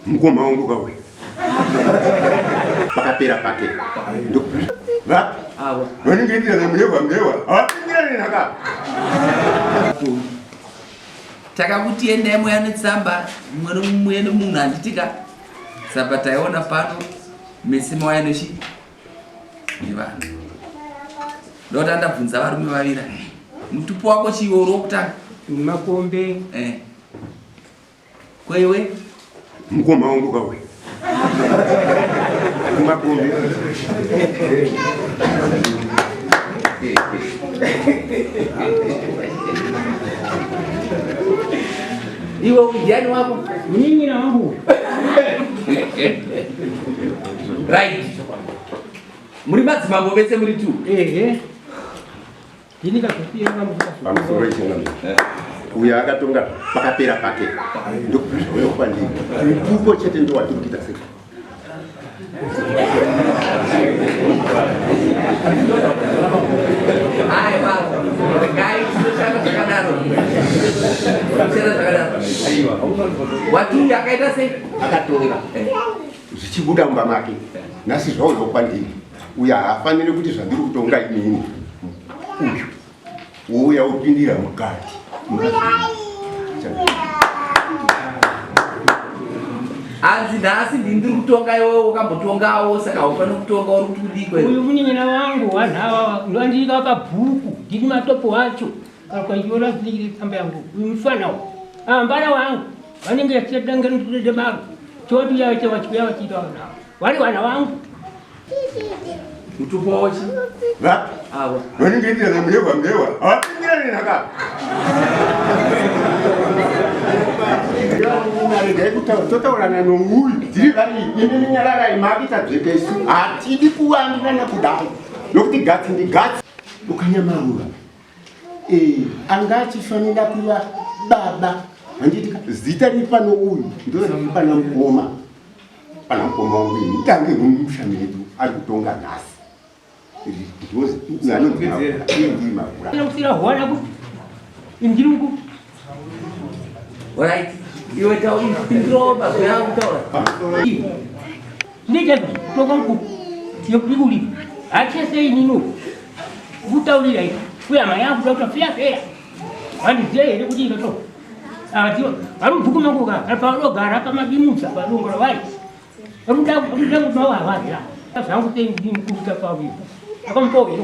Mukoma wangu kauya. Pakapera pake. Vapi? Ava. Vanenge ndira na mlewa mlewa. Hawapindira nini haka? Takakuti endai mweya netsamba mwero mweya nomunhu handitika sapa taiona pano mese mawaya nochi nevanhu ndota ndabvunza varume vavira mutupo wako chiiwo uri wokutanga makombe eh. Kwewe mukoma wangu kawe kumakombi iwe ujani wako nyinyi na wangu right muri madzimambo vese muri tu ehe pamusoro ichingamiri eh. uyo akatonga pakapera pake ndokuzvaoyokwandii uko chete ndowatiri kuita sei watunga akaita sei akatonga eh. zvichibuda mumba make eh. nhasi zvaoyokwandii uyu haafanire kuti zvandiri kutonga inini uyu wouya wopindira mukati hanzi nhasi ndini ndiri kutonga iwewe wakambotongawo saka haufanire kutonga uri kuti kudii kwe uyu munyanyina wangu wanhu awawa ndoandiika pabhuku ndini matopo wacho kana kwaiona zvinenge tsamba yangu uyu mufana wa ambara wangu vanenge vachidanga ndiride maro choti uya vacha vachiuya vachiita vana avo vari vana vangu mutupo wachi va avo vanenge ita na mlewa mlewa hawapindira nini aka totaurana nouyu tiri vari imi minyararai mavita dzvekesi hatidi kuwandirana kudai nokuti gatsi ndigatsi ukanyamaura Eh, anga achifanira kuva baba handiti zita riri pano uyu ndiro riri pana mukoma pana mukoma wangu ini tange mumusha medu ari kutonga nhasi ndiro anondimaura anofira hwana kuti ndiri Alright. Iwe tawo intro ba ya kutaura. Nija tokonku. Yokuli. Acha sei nino. Kutaulira hivi. Kuya maya kutaura pia pia. Wani je ile kuti ndo. Ah tio. Aru buku mangu ka. Apa ro gara pa madimutsa pa ro ngoro wai. Aru da aru da kubawa wai. Sasa yangu tengi mkuta pa hivi. Akampo hivi.